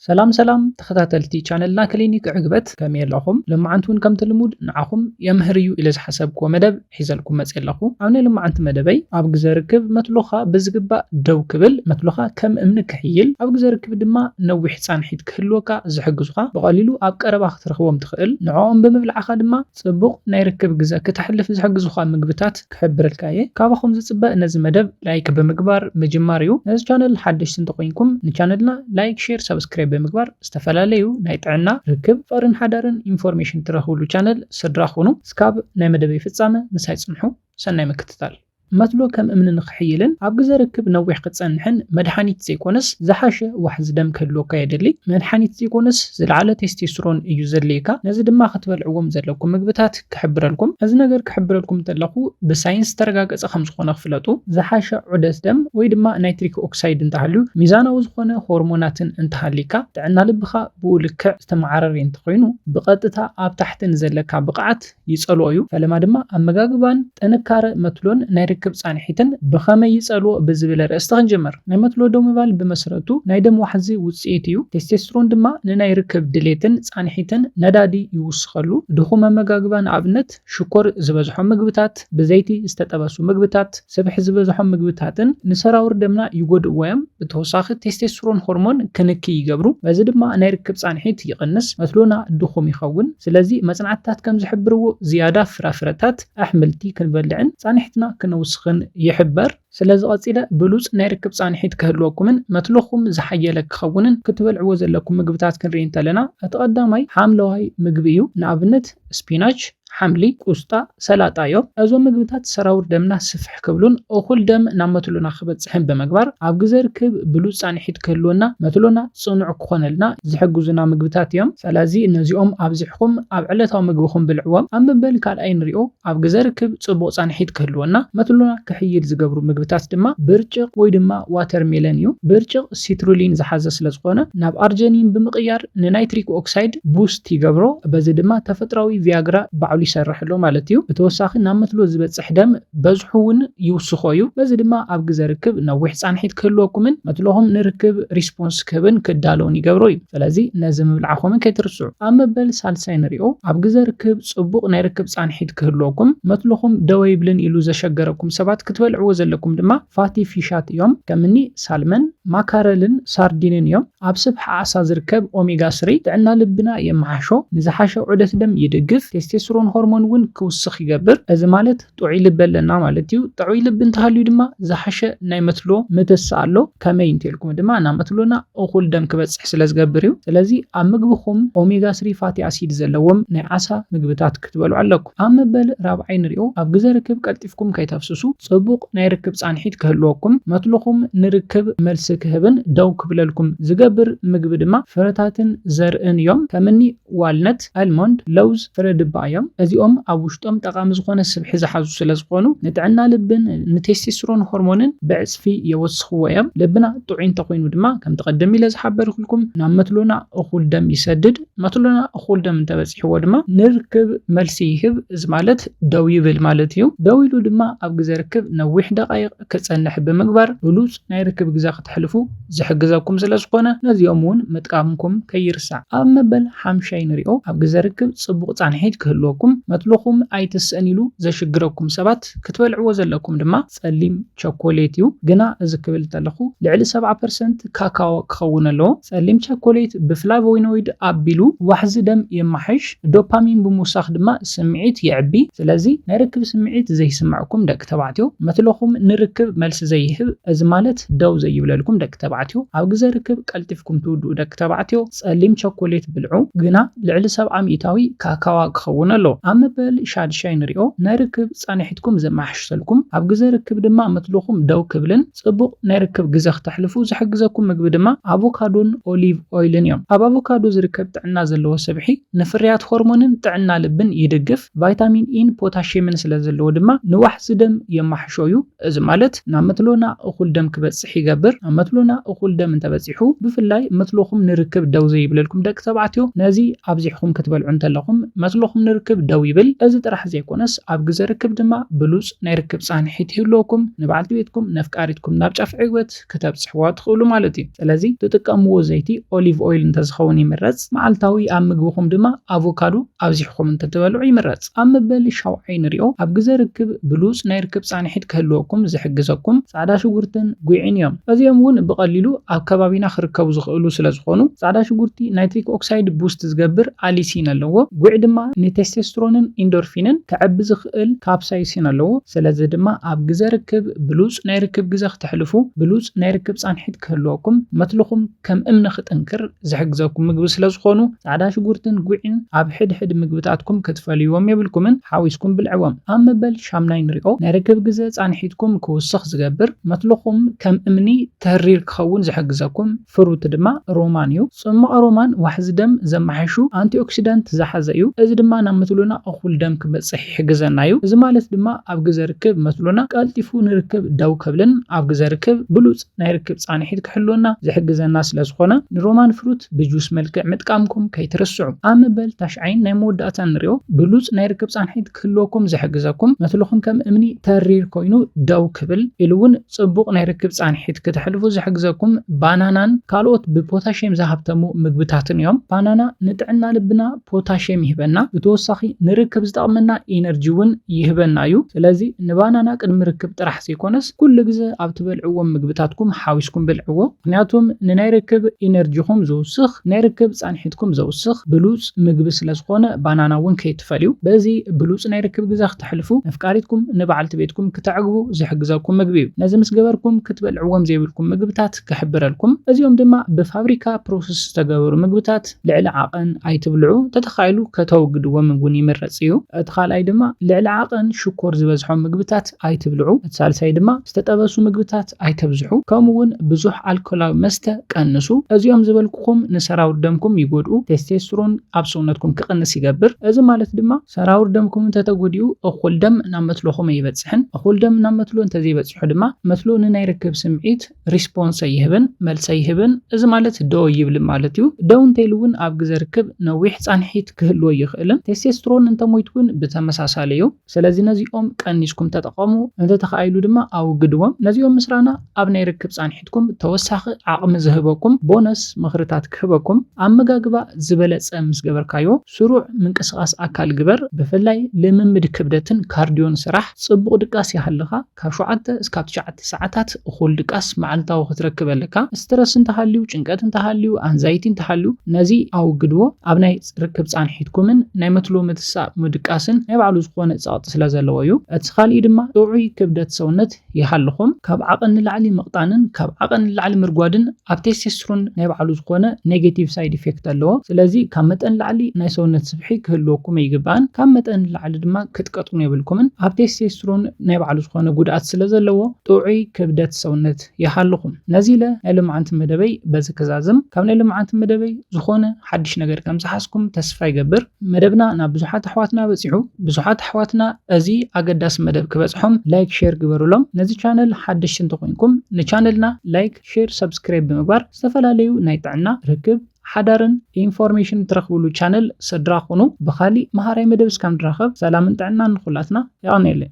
ሰላም ሰላም ተኸታተልቲ ቻነልና ክሊኒክ ዕግበት ከመይ ኣለኹም? ሎማዓንቲ ውን ከምቲ ልሙድ ንዓኹም የምህር እዩ ኢለ ዝሓሰብክዎ መደብ ሒዘልኩም መጼ ኣለኹ። ኣብ ናይ ሎማዓንቲ መደበይ ኣብ ግዘ ርክብ መትሎኻ ብዝግባእ ደው ክብል መትሎኻ ከም እምኒ ክሕይል ኣብ ግዘ ርክብ ድማ ነዊሕ ፃንሒት ክህልወካ ዝሕግዙኻ ብቐሊሉ ኣብ ቀረባ ክትረኽቦም ትኽእል ንዖኦም ብምብላዕኻ ድማ ጽቡቕ ናይ ርክብ ግዘ ክተሕልፍ ዝሕግዙኻ ምግብታት ክሕብረልካ እየ። ካባኹም ዝጽበ ነዚ መደብ ላይክ ብምግባር ምጅማር እዩ። ነዚ ቻነል ሓደሽቲ እንተኾይንኩም ንቻነልና ላይክ ሼር ሳብስክራይብ ብምግባር ዝተፈላለዩ ናይ ጥዕና፣ ርክብ፣ ፍቕርን ሓዳርን ኢንፎርሜሽን ትረኽብሉ ቻነል ስድራ ኹኑ። እስካብ ናይ መደበይ ፍጻመ ምሳይ ጽንሑ። ሰናይ ምክትታል። መትሎ ከም እምኒ ንኽሕይልን ኣብ ግዘ ርክብ ነዊሕ ክትፀንሕን መድሓኒት ዘይኮነስ ዝሓሸ ዋሕዚ ደም ክህልወካ የድሊ። መድሓኒት ዘይኮነስ ዝለዓለ ቴስቴስትሮን እዩ ዘድልየካ። ነዚ ድማ ክትበልዕዎም ዘለኩም ምግብታት ክሕብረልኩም። እዚ ነገር ክሕብረልኩም እንተለኹ ብሳይንስ ዝተረጋገፀ ከምዝኾነ ክፍለጡ። ዝሓሸ ዑደት ደም ወይ ድማ ናይትሪክ ኦክሳይድ እንተሃልዩ፣ ሚዛናዊ ዝኾነ ሆርሞናትን እንተሃልይካ፣ ጥዕና ልብኻ ብኡ ልክዕ ዝተመዓረርይ እንተኾይኑ፣ ብቐጥታ ኣብ ታሕቲ ንዘለካ ብቕዓት፣ ይጸልዎ እዩ፣ ፈለማ ድማ ኣመጋግባን ጥንካረ መትሎን ናይ ርክብ ጻንሒትን ብኸመይ ይጸልዎ ብዝብል ኣርእስቲ ክንጅምር። ናይ መትሎ ደው ምባል ብመስረቱ ናይ ደም ዋሕዚ ውጽኢት እዩ፣ ቴስቴስትሮን ድማ ንናይ ርክብ ድሌትን ጻንሒትን ነዳዲ ይውስኸሉ። ድኹም ኣመጋግባ ንኣብነት ሽኮር ዝበዝሖም ምግብታት፣ ብዘይቲ ዝተጠበሱ ምግብታት፣ ስብሒ ዝበዝሖም ምግብታትን ንሰራውር ደምና ይጎድእዎ እዮም። ብተወሳኺ ቴስቴስትሮን ሆርሞን ክንኪ ይገብሩ፣ በዚ ድማ ናይ ርክብ ፃንሒት ይቕንስ፣ መትሎና ድኹም ይኸውን። ስለዚ መፅናዕትታት ከም ዝሕብርዎ ዝያዳ ፍራፍረታት፣ ኣሕምልቲ ክንበልዕን ፃንሒትና ክነውስኽን ይሕበር። ስለዚ ቐፂለ ብሉፅ ናይ ርክብ ፃንሒት ክህልወኩምን መትሎኹም ዝሓየለ ክኸውንን ክትበልዕዎ ዘለኩም ምግብታት ክንርኢ እንተለና እቲ ቐዳማይ ሓምለዋይ ምግቢ እዩ። ንኣብነት ስፒናች፣ ሓምሊ፣ ቁስጣ፣ ሰላጣ እዮም። እዞም ምግብታት ሰራውር ደምና ስፍሕ ክብሉን እኹል ደም ናብ መትሎና ክበጽሕን ብምግባር ኣብ ግዘ ርክብ ብሉጽ ጻንሒት ክህልወና መትሎና ጽኑዕ ክኾነልና ዝሕግዙና ምግብታት እዮም። ሰለዚ ነዚኦም ኣብዚሕኹም ኣብ ዕለታዊ ምግብኹም ብልዕዎም። ኣብ መበል ካልኣይ ንሪኦ ኣብ ግዘ ርክብ ጽቡቕ ጻንሒት ክህልወና መትሎና ክሕይል ዝገብሩ ምግብታት ድማ ብርጭቕ ወይ ድማ ዋተርሜለን እዩ። ብርጭቕ። ሲትሩሊን ዝሓዘ ስለዝኾነ ናብ ኣርጀኒን ብምቕያር ንናይትሪክ ኦክሳይድ ቡስት ይገብሮ በዚ ድማ ተፈጥራዊ ቪያግራ ባዕሉ ይሰርሕ ኣሎ ማለት እዩ። ብተወሳኺ ናብ መትሎ ዝበፅሕ ደም በዝሑ እውን ይውስኾ እዩ። በዚ ድማ ኣብ ግዘ ርክብ ነዊሕ ፃንሒት ክህልወኩምን መትሎኹም ንርክብ ሪስፖንስ ክህብን ክዳለውን ይገብሮ እዩ። ስለዚ ነዚ ምብላዕኹምን ከይትርስዑ። ኣብ መበል ሳልሳይ ንሪኦ። ኣብ ግዘ ርክብ ፅቡቕ ናይ ርክብ ፃንሒት ክህልወኩም መትሎኹም ደው ኣይብልን ኢሉ ዘሸገረኩም ሰባት ክትበልዕዎ ዘለኩም ድማ ፋቲ ፊሻት እዮም። ከምኒ። ሳልመን፣ ማካረልን ሳርዲንን እዮም። ኣብ ስብሒ ዓሳ ዝርከብ ኦሜጋ ስሪ ጥዕና ልብና የመሓሾ፣ ንዝሓሸ ዑደት ደም ይድግፍ፣ ቴስቴስትሮን ሆርሞን እውን ክውስኽ ይገብር። እዚ ማለት ጥዑይ ልቢ ኣለና ማለት እዩ። ጥዑይ ልቢ እንተሃልዩ ድማ ዝሓሸ ናይ መትሎ ምትስእ ኣሎ። ከመይ እንተኢልኩም ድማ ናብ መትሎና እኹል ደም ክበጽሕ ስለዝገብር እዩ። ስለዚ ኣብ ምግብኹም ኦሜጋ ስሪ ፋቲ ኣሲድ ዘለዎም ናይ ዓሳ ምግብታት ክትበልዑ ኣለኩም። ኣብ መበል ራብዓይ ንሪኦ። ኣብ ግዘ ርክብ ቀልጢፍኩም ከይተፍስሱ፣ ፅቡቕ ናይ ርክብ ፃንሒት ክህልወኩም፣ መትልኹም ንርክብ መልሲ ክህብን ደው ክብለልኩም ዝገብር ምግቢ ድማ ፍረታትን ዘርእን እዮም። ከም እኒ ዋልነት፣ ኣልሞንድ፣ ለውዝ፣ ፍረ ድባ እዮም። እዚኦም ኣብ ውሽጦም ጠቓሚ ዝኾነ ስብሒ ዝሓዙ ስለዝኾኑ ንጥዕና ልብን ንቴስቴስትሮን ሆርሞንን ብዕፅፊ የወስኽዎ እዮም። ልብና ጥዑይ እንተኾይኑ ድማ ከምቲ ቐደም ኢለ ዝሓበርክልኩም ናብ መትሎና እኹል ደም ይሰድድ። መትሎና እኹል ደም እንተበጺሕዎ ድማ ንርክብ መልሲ ይህብ፣ እዚ ማለት ደው ይብል ማለት እዩ። ደው ኢሉ ድማ ኣብ ግዘ ርክብ ነዊሕ ደቓይቕ ክጸንሕ ብምግባር ብሉጽ ናይ ርክብ ግዘ ክተሕልፉ ዝሕግዘኩም ስለዝኾነ ነዚኦም እውን ምጥቃምኩም ከይርሳዕ። ኣብ መበል ሓምሻይ ንሪኦ። ኣብ ግዘ ርክብ ጽቡቕ ጻንሒት ክህልወኩም፣ መትሎኹም ኣይትስእን ኢሉ ዘሽግረኩም ሰባት ክትበልዕዎ ዘለኩም ድማ፣ ጸሊም ቸኮሌት እዩ። ግና እዚ ክብል እንተለኹ ልዕሊ ሰብዓ ፐርሰንት ካካዎ ክኸውን ኣለዎ። ጸሊም ቸኮሌት ብፍላቮይኖይድ ኣቢሉ ዋሕዚ ደም የማሕሽ፣ ዶፓሚን ብምውሳኽ ድማ ስምዒት የዕቢ። ስለዚ ናይ ርክብ ስምዒት ዘይስምዕኩም ደቂ ተባዕትዮ፣ መትሎኹም ንርክብ መልሲ ዘይህብ፣ እዚ ማለት ደው ዘይብለልኩም ደቂ ተባዕትዮ፣ ኣብ ግዘ ርክብ ቀልጢፍኩም ትውድኡ ደቂ ተባዕትዮ ጸሊም ቸኮሌት ብልዑ። ግና ልዕሊ ሰብዓ ሚእታዊ ካካዋ ክኸውን ኣለዎ። ኣብ መበል ሻድሻይ ንሪኦ ናይ ርክብ። ፃንሒትኩም ዘመሓሽሰልኩም ኣብ ግዘ ርክብ ድማ ምትልኹም ደው ክብልን ፅቡቕ ናይ ርክብ ግዘ ክተሕልፉ ዝሕግዘኩም ምግቢ ድማ ኣቮካዶን ኦሊቭ ኦይልን እዮም። ኣብ ኣቮካዶ ዝርከብ ጥዕና ዘለዎ ስብሒ ንፍርያት ሆርሞንን ጥዕና ልብን ይድግፍ፣ ቫይታሚን ኢን ፖታሽየምን ስለዘለዎ ድማ ንዋሕዚ ደም የማሕሾ እዩ። እዚ ማለት ናብ መትሎና እኹል ደም ክበጽሕ ይገብር። ናብ መትሎና እኹል ደም እንተበጺሑ፣ ብፍላይ መትሎኹም ንርክብ ደው ዘይብለልኩም ደቂ ተባዕትዮ፣ ነዚ ኣብዚሕኹም ክትበልዑ እንተለኹም መትሎኹም ንርክብ ደው ይብል። እዚ ጥራሕ ዘይኮነስ ኣብ ግዘ ርክብ ድማ ብሉጽ ናይ ርክብ ጻንሒት ይህልወኩም፣ ንበዓልቲ ቤትኩም፣ ነፍቃሪትኩም ናብ ጫፍ ዕግበት፣ መልእኽቲ ክተብጽሕዋ ትኽእሉ ማለት እዩ። ስለዚ ትጥቀምዎ ዘይቲ ኦሊቭ ኦይል እንተዝኸውን ይምረጽ፣ መዓልታዊ ኣብ ምግብኹም ድማ ኣቮካዶ ኣብዚሕኹም እንተትበልዑ ይምረጽ። ኣብ መበል ሻውዓይ ንሪኦ፣ ኣብ ግዘ ርክብ ብሉጽ ናይ ርክብ ጻንሒት ክህልወኩም ዝሕግዘኩም ጻዕዳ ሽጉርትን ጒዕን እዮም። እዚኦም እውን ብቐሊሉ ኣብ ከባቢና ክርከቡ ዝኽእሉ ስለዝኾኑ፣ ጻዕዳ ሽጉርቲ ናይትሪክ ኦክሳይድ ቡስት ዝገብር ኣሊሲን ኣለዎ፣ ጒዕ ድማ ንቴስቴስትሮንን ኢንዶርፊንን ከዕቢ ዝኽእል ካፕሳይሲን ኣለዎ፣ ስለዚ ድማ ኣብ ግዘ ርክብ ብሉጽ ናይ ርክብ ግዘ ክተሕልፉ፣ ብሉጽ ናይ ርክብ ጻንሒት ክህልወኩም፣ መትልኹም ከም እምኒ ክጥንክር ዝሕግዘኩም ምግቢ ስለዝኾኑ ጻዕዳ ሽጉርትን ጉዒን ኣብ ሕድሕድ ምግብታትኩም ክትፈልይዎም የብልኩምን፣ ሓዊስኩም ብልዕዎም። ኣብ መበል ሻምናይ ንሪኦ፣ ናይ ርክብ ግዘ ጻንሒትኩም ክውስኽ ዝገብር፣ መትልኹም ከም እምኒ ተሪር ክኸውን ዝሕግዘኩም፣ ፍሩት ድማ ሮማን እዩ። ጽሟቕ ሮማን ዋሕዚ ደም ዘመሓይሹ ኣንቲኦክሲዳንት ዝሓዘ እዩ፣ እዚ ድማ ናብ መትሎና እኹል ደም ክበጽሕ ይሕግዘና እዩ። እዚ ማለት ድማ ኣብ ግዘ ርክብ መትሎና ቀልጢፉ ንርክብ ደው ከብልን ኣብ ግዘ ርክብ ብሉጽ ናይ ርክብ ጻንሒት ክሕልወና ዝሕግዘና ስለ ዝኾነ ንሮማን ፍሩት ብጁስ መልክዕ ምጥቃምኩም ከይትርስዑ። ኣብ መበል ታሽዓይን ናይ መወዳእታን ንሪኦ ብሉጽ ናይ ርክብ ጻንሒት። ክህልወኩም ዝሕግዘኩም መትሎኹም ከም እምኒ ተሪር ኮይኑ ደው ክብል ኢሉ እውን ፅቡቕ ናይ ርክብ ፃንሒት ክተሕልፉ ዝሕግዘኩም ባናናን ካልኦት ብፖታሽየም ዝሃብተሙ ምግብታትን እዮም። ባናና ንጥዕና ልብና ፖታሽየም ይህበና፣ ብተወሳኺ ንርክብ ዝጠቕመና ኢነርጂ እውን ይህበና እዩ። ስለዚ ንባናና ቅድሚ ርክብ ጥራሕ ዘይኮነስ ኩሉ ግዘ ኣብ ትበልዕዎም ምግብታትኩም ሓዊስኩም ብልዕዎ። ምኽንያቱም ንናይ ርክብ ኢነርጂኹም ዝውስኽ፣ ናይ ርክብ ፃንሒትኩም ዘውስኽ ብሉፅ፣ ብሉጽ ምግቢ ስለ ዝኾነ ባናና እውን ከይትፈልዩ። በዚ ብሉጽ ናይ ርክብ ግዘ ክተሕልፉ፣ ነፍቃሪትኩም ንበዓልቲ ቤትኩም ክተዕግቡ ዝሕግዘኩም ምግቢ እዩ። ነዚ ምስ ገበርኩም ክትበልዕዎም ዘይብልኩም ምግብታት ክሕብረልኩም። እዚኦም ድማ ብፋብሪካ ፕሮሰስ ዝተገበሩ ምግብታት ልዕሊ ዓቐን ኣይትብልዑ፣ ተተኻኢሉ ከተወግድዎም እውን ይምረጽ እዩ። እቲ ካልኣይ ድማ ልዕሊ ዓቐን ሽኮር ዝበዝሖም ምግብታት ኣይትብልዑ። እቲ ሳልሳይ ድማ ዝተጠበሱ ምግብታት። ኣይተብዝሑ ከምኡ ውን ብዙሕ ኣልኮላዊ መስተ ቀንሱ። እዚኦም ዝበልኩኹም ንሰራውር ደምኩም ይጎድኡ፣ ቴስቴስትሮን ኣብ ሰውነትኩም ክቕንስ ይገብር። እዚ ማለት ድማ ሰራውር ደምኩም እንተተጎዲኡ እኹል ደም ናብ መትሎኹም ኣይበጽሕን። እኹል ደም ናብ መትሎ እንተዘይበጺሑ ድማ መትሎ ንናይ ርክብ ስምዒት፣ Response፣ ኣይህብን፣ መልሲ ኣይህብን። እዚ ማለት ደው ኣይብልን ማለት እዩ። ደው እንተኢሉ ውን ኣብ ግዘ ርክብ ነዊሕ ጻንሒት ክህልዎ ኣይኽእልን። ቴስቴስትሮን እንተሞይቱ ውን ብተመሳሳሊ እዩ። ሰለዚ ነዚኦም ቀኒስኩም ተጠቐሙ፣ እንተተኻኢሉ ድማ ኣውግድዎም። ነዚኦም ምስራና ኣብ ናይ ርክብ ጻንሒትኩም ተወሳኺ ዓቕሚ ዝህበኩም ቦነስ ምኽርታት ክህበኩም፣ ኣመጋግባ ዝበለጸ ምስ ገበርካዮ ስሩዕ ምንቅስቓስ ኣካል ግበር፣ ብፍላይ ልምምድ ክብደትን ካርድዮን ስራሕ፣ ጽቡቕ ድቃስ ይሃልኻ። ካብ ሸውዓተ እስካብ ትሽዓተ ሰዓታት እኹል ድቃስ መዓልታዊ ክትረክብ ኣለካ። ስትረስ እንተሃልዩ፣ ጭንቀት እንተሃልዩ፣ ኣንዛይቲ እንተሃልዩ ነዚ ኣወግድዎ። ኣብ ናይ ርክብ ጻንሒትኩምን ናይ መትሎ ምትሳእ ምድቃስን ናይ ባዕሉ ዝኾነ ጸቕጢ ስለዘለዎ እዩ። እቲ ካልእይ ድማ ጥዑይ ክብደት ሰውነት ይሃልኹም። ካብ ዓቐን ንላዕሊ ምቕጣንን ካብ ዓቐን ንላዕሊ ምርጓድን ኣብ ቴስቴስትሮን ናይ ባዕሉ ዝኾነ ኔጌቲቭ ሳይድ ኢፌክት ኣለዎ። ስለዚ ካብ መጠን ላዕሊ ናይ ሰውነት ስብሒ ክህልወኩም ኣይግባእን። ካብ መጠን ንላዕሊ ድማ ክትቀጥኑ የብልኩምን። ኣብ ቴስቴስትሮን ናይ ባዕሉ ዝኾነ ጉድኣት ስለዘለዎ ጥዑይ ክብደት ሰውነት ይሃልኹም። ነዚ ኢለ ናይ ሎምዓንቲ መደበይ በዚ ክዛዝም። ካብ ናይ ሎምዓንቲ መደበይ ዝኾነ ሓድሽ ነገር ከምዝሓዝኩም ተስፋ ይገብር። መደብና ናብ ብዙሓት ኣሕዋትና በጺሑ። ብዙሓት ኣሕዋትና እዚ ኣገዳሲ መደብ ክበጽሖም ላይክ ሼር ግበሩሎም። ነዚ ቻነል ሓደሽቲ እንተኾይንኩም ንቻነልና ላይክ፣ ሼር ሰብስክራይብ ብምግባር ዝተፈላለዩ ናይ ጥዕና፣ ርክብ፣ ሓዳርን ኢንፎርሜሽን ትረኽብሉ ቻነል ስድራ ኩኑ። ብኻሊእ መሃራይ መደብ እስካብ ንራኸብ ሰላምን ጥዕናን ንኹላትና። የቐንየለይ።